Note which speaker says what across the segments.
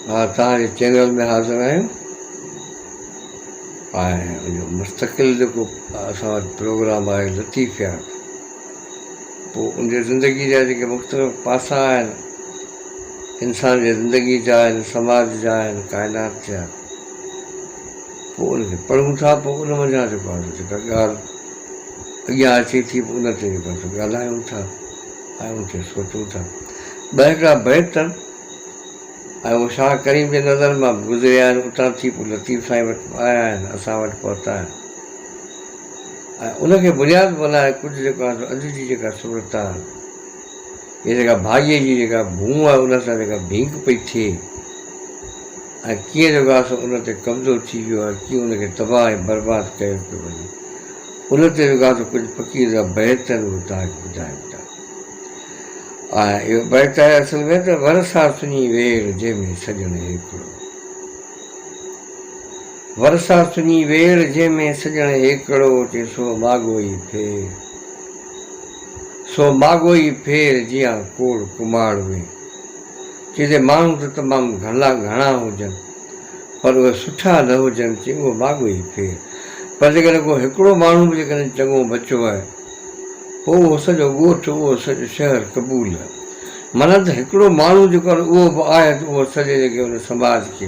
Speaker 1: مان توهان جي چينل ۾ حاضر آهيون ۽ مستقل جيڪو اسان وٽ پروگرام آهي لطيفيات پو ان جي زندگي جا جيڪي مختلف پاسا آهن انسان جي زندگي جا آهن سماج جا آهن ڪائنات جا پو ان کي پڙهون ٿا پو ان منجهان جيڪو آهي جيڪا ڳالهه اڳيان اچي ٿي پو ان تي جيڪو آهي سو ڳالهايون ٿا آيون تي سوچون ٿا ٻهڪا بيت ته آيون شاهه ڪريم جي نظر مان به گذريا آهن اتان ٿي پوء لطيف سائين وٽ آيا آهن اسان وٽ پهتا آهن ۽ ان کي بنياد بنائي ڪجهه جيڪو آهي سو اڄ جي جيڪا صورت آهي هي جيڪا ڀاڳي جي جيڪا ڀونء آهي ان سان جيڪا ڀينگ پئي ٿئي ۽ ڪيئن جيڪو آهي سو ان تي قبضو ٿي ويو آهي ڪيئن ان کي تباهه ۽ برباد ڪيو پيو وڃي ان تي رڳا ته ڪجهه فقير جا بيت ۽ مداح ٻڌائين ٿا. آهن اهو بيت آهي اصل ۾ ته ورسا سڃي ويڙ جنهن ۾ سڄڻ هيڪڙو. ورسا سڃي ويڙ جنهن ۾ سڄڻ هيڪڙو چي سو ماڳوئي ڦير سو ماڳوئي ڦير جيان ڪوڙ ڪماڙ وي چي جي ماڻهو ته تمام گهڻا گهڻا هجن پر اهي سٺا نه هجن چي اهو ماڳو ئي ٿئي. پر جيڪڏهن ڪو هڪڙو ماڻهو به جيڪڏهن چڱو بچو آهي پوء اهو سڄو ڳوٺ اهو سڄو شهر قبول آهي. معنيٰ ته هڪڙو ماڻهو جيڪو آهي اهو به آهي ته اهو سڄي جيڪي ان سماج کي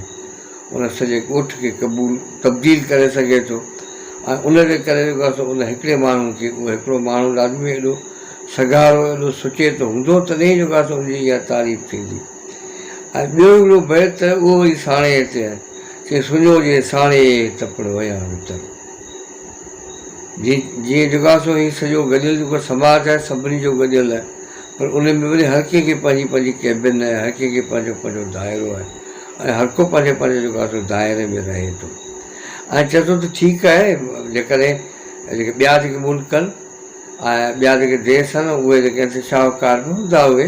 Speaker 1: ان سڄي ڳوٺ کي قبول تبديل ڪري سگهي ٿو ۽ ان جي ڪري جيڪو آهي سو ان هڪڙي ماڻهو کي اهو هڪڙو ماڻهو لازمي ايڏو سگهارو ايڏو سچيتو هوندو تڏهن ئي جيڪو آهي سو ان جي اها تعريف ٿيندي. ۽ ٻيو هڪڙو بيت ته اهو وري ساڻيهه تي آهي، چي سڃو جي ساڻيهه ئي تپڙ ويان وتر. جي جيئن جيڪو آهي سو هي سڄو گڏيل جيڪو سماج آهي سڀني جو گڏيل آهي پر ان ۾ وري هر ڪنهن کي پنهنجي پنهنجي ڪيبن آهي هر ڪنهن کي پنهنجو پنهنجو دائرو آهي ۽ هر ڪو پنهنجي پنهنجي جيڪو آهي سو دائري ۾ رهي ٿو ۽ چئي ٿو ته ٺيڪ آهي جيڪڏهن جيڪي ٻيا جيڪي ملڪ آهن ۽ ٻيا جيڪي ديس آهن اهي جيڪي آهن سي شاهوڪار به هوندا اهي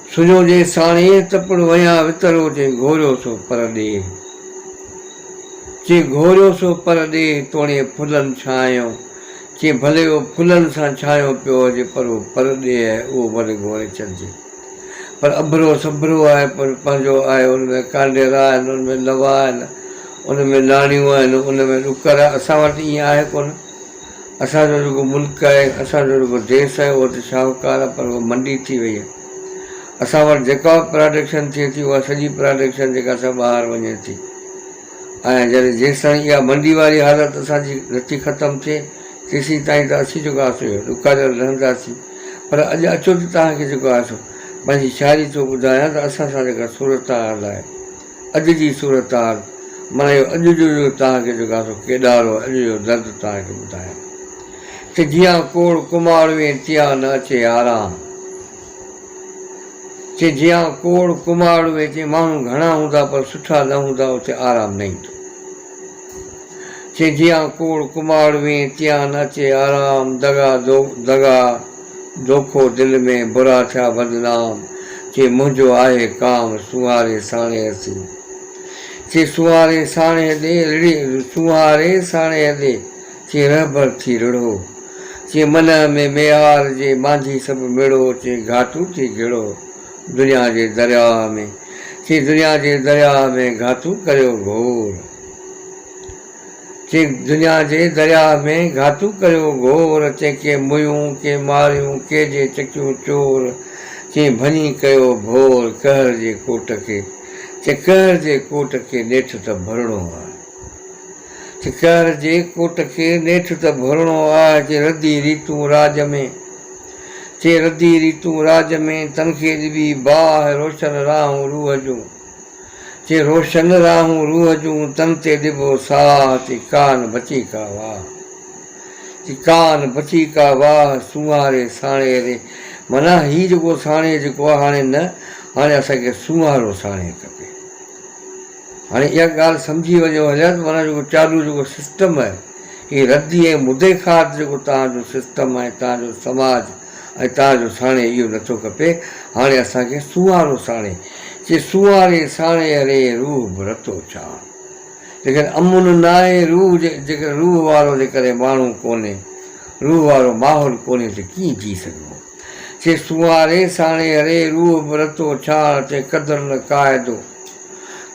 Speaker 1: سنجهو جي ساڻيهه ته پڻ وڃان وترو چي گهوريو سو پر ڏيهه چي گهوريو سو پر ڏيهه توڻي ڦلن ڇانهيو چي ڀلي اهو ڦلن سان ڇانهيو پيو هجي پر هو پر ڏيهه آهي اهو ڀلي گهوري ڇڏجي پر اڀرو سڀرو آهي پر پنهنجو آهي ان ۾ ڪانڊيرا آهن ان ۾ لوا آهن ان ۾ ناڻيون آهن ان ۾ ڏڪر آهن اسان وٽ ائين آهي ڪونه اسان جو جيڪو ملڪ آهي، اسان جو جيڪو ديس آهي اهو ته شاهوڪار آهي پر اهو منڊي ٿي وئي آهي. اسان وٽ جيڪا به پراڊڪشن ٿئي ٿي اها سڄي پراڊڪشن جيڪا سا ٻاهر وڃي ٿي ۽ جڏهن جيستائين اها منڊي واري حالت اسان جي نٿي ختم ٿئي تيسين تائين ته اسين جيڪو آهي سو ڏکاريل رهنداسين پر اڄ اچو ته توهان کي جيڪو آهي سو پنهنجي شاعري ٿو ٻڌايان ته اسان سان جيڪا صورتحال آهي اڄ جي صورتحال معنيٰ اهو اڄ جو جو توهان کي جيڪو آسو ڪيڏار هو اڄ جو درد توهان کي ٻڌايان ته جيان ڪوڙ ڪماڙ وين تيان نه اچي آرام چي جيان ڪوڙ ڪماڙ وين تي ماڻهو گهڻا هوندا پر سٺا نه هوندا اتي آرام نه ايندو. چي جيان ڪوڙ ڪماڙ وين تيان اچي آرام دغا دغا دوکو دل ۾ برا ٿيا بدنام چي منهنجو آهي ڪام سونهاري ساڻيهه اسين چي سونهاري ساڻيهه ڏي رڙهي سونهاري ساڻيهه ڏي چي رهبر ٿي رڙهو چي منهه ۾ ميهار جي مانجهي سڀ مڙهو چي گهاٽو ٿي گهڙو. دنيا جي درياهه ۾، ٿي دنيا جي درياهه ۾، گهاتو ڪريو گهور. ٿي دنيا جي درياهه ۾، گهاتو ڪريو گهور، تنهن ڪي موهيون، ڪي ماريون، ڪي جي چڪيون چور، ٿي ڀڃي ڪيو ڀور، قهر جي ڪوٽ کي، تنهن قهر جي ڪوٽ کي، نيٺ ته ڀرڻو آهي. ٺڪر جي ڪوٽ کي نيٺ ته ڀرڻو آهه چي ردي ريتون راڄ ۾، چي ردي ريتون راڄ ۾، تن کي ڏبي باهه روشن راهون روح جون، چي روشن راهون روح جون، تن تي ڏبو ساهه، چي ڪانه بچي ڪا واهه، چي ڪانه بچي ڪا واهه، سونهاري ساڻيهه ري، معنيٰ هي جيڪو ساڻيهه جيڪو آهي هاڻي نه، هاڻي اسان کي سونهارو ساڻيهه کپي. هاڻي اها ڳالهه سمجهي وڃو هليا ته معنيٰ جيڪو چالو جيڪو سسٽم آهي اهي ردي ۽ مدي خواهت جيڪو توهان جو سسٽم ۽ توهان جو سماج ۽ توهان جو ساڻي اهو نه ٿو کپي هاڻي اسان کي سونهارو ساڻي چي سونهاري ساڻي اري روح به رتو ڇان جيڪڏهن امن نه آهي روح جي جيڪڏهن روح وارو جي ڪري ماڻهو ڪونهي روح وارو ماحول ڪونهي ته ڪيئن جي سگهبو. چي سونهاري ساڻي اري روح برتو ڇاڻ چي قدر نه قاعدو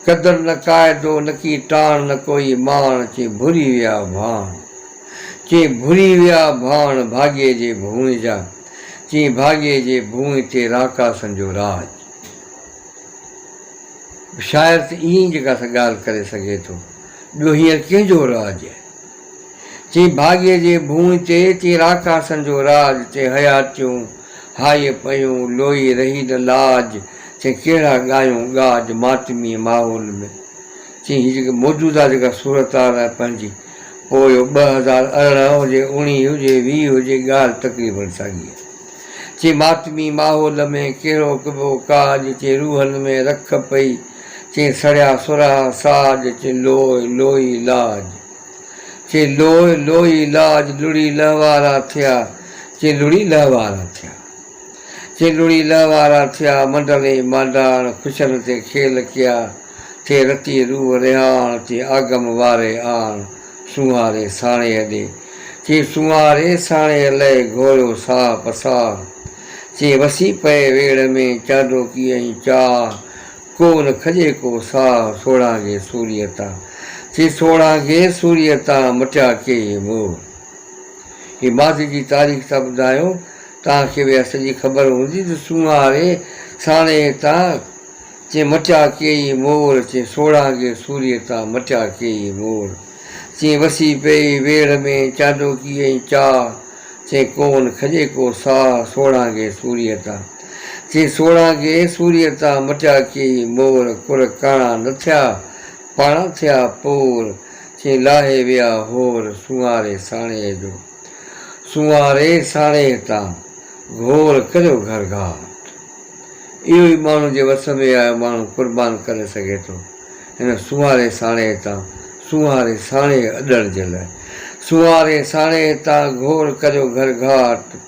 Speaker 1: قدر نه قاعدو نڪي ٽاڻ نه ڪوئي ماڻ چي ڀري ويا ڀاڻ چي ڀري ويا ڀاڻ ڀاڳي جي ڀونء جا چي ڀاڳي جي ڀونء تي راڪاسن جو راڄ شاعر ته ائين جيڪا سا ڳالهه ڪري سگهي ٿو ٻيو هينئر ڪنهن جو راڄ. چي ڀاڳيء جي ڀونء تي، چي راڪاسن جو راڄ، چي حياتيون هائيء پيون، لوئي رهي نه لاج، چي ڪهڙا ڳايون ڳاج ماتميء ماحول ۾. چي هي جيڪي موجوده جيڪا صورتحال آهي پنهنجي، پوء اهو ٻه هزار ارڙهن هجي، اڻيهه هجي، ويهه هجي، ڳالهه تقريباً ساڳي آهي. چي ماتمي ماحول ۾ ڪهڙو ڪبو ڪاڄ، چي روحن ۾ رک پئي، چي سڙيا سرها ساڄ، چي لوء لوئي لاج. چي لوء لوئي لاج لڙي لهوارا ٿيا چي لڙي لهوارا ٿيا چي لڙي لهوارا ٿيا منڊلي مانڊاڻ خوشن تي کيل ڪيا ٿي رتي روح رهاڻ چي آگم واري آڻ سونهاري ساڻيهه ڏي چي سونهاري ساڻيهه لئي گهوريو ساهه پساهه چي وسي پئي ويڙهه ۾ چانڊوڪي ۽ چاهه ڪو نه کڄي ڪو ساهه سوڙهانگي سوريء تان، چي سوڙهانگي سوريء تان مٽيا ڪي هي موهه. هي ماضي جي تاريخ ٿا ٻڌايون، توهان کي به اها سڄي خبر هوندي ته سونهاري ساڻيهه تان، چي مٽيا ڪي هي مور، چي سوڙهانگي سوريء تان مٽيا ڪي هي مور. چي وسي پئي ويڙهه ۾ چانڊوڪي ۽ چاهه، چي ڪو نه کڄي ڪو ساهه سوڙهانگي سوريء تان. چي سوڙهان کي سوريء تان مٽيا ڪي مور ڪر ڪاڻا نه ٿيا پاڻا ٿيا پور چي لاهي ويا هور سونهاري ساڻيهه جو سونهاري ساڻيهه تان گهور ڪريو گهر گهاٽ اهو ئي ماڻهو جي وس ۾ آيو ماڻهو قربان ڪري سگهي ٿو هن سونهاري ساڻيهه تان سونهاري ساڻيهه اڏڻ جي لاء سونهاري ساڻيهه تان گهور ڪريو گهر گهاٽ.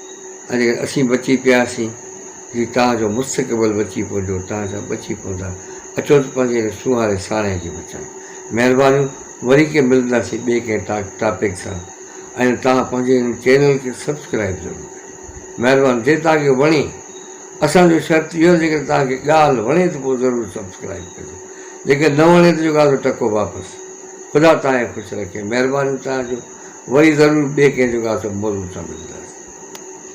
Speaker 1: ۽ جيڪڏهن اسين بچي پياسين جي توهان جو مستقبل بچي پوندو، توهان سڀ بچي پوندا، اچو ته پنهنجي هن سونهاري ساڻيهه جي بچايون. مهربانيون وري ڪي ملنداسين ٻئي ڪنهن ٽاڪ ٽاپڪ سان ۽ توهان پنهنجي هن چينل کي سبسڪرائيب ضرور ڪريو مهربان جي توهان کي وڻي اسان جو شرط اهو آهي جيڪڏهن توهان کي ڳالهه وڻي ته پوء ضرور سبسڪرائيب ڪجو جيڪڏهن نه وڻي ته جيڪو آهي سو ٽڪو واپس خدا توهان کي خوش رکي. مهرباني توهان جو وري ضرور ٻي ڪنهن جڳهه تي موضوع سان ملنداسين.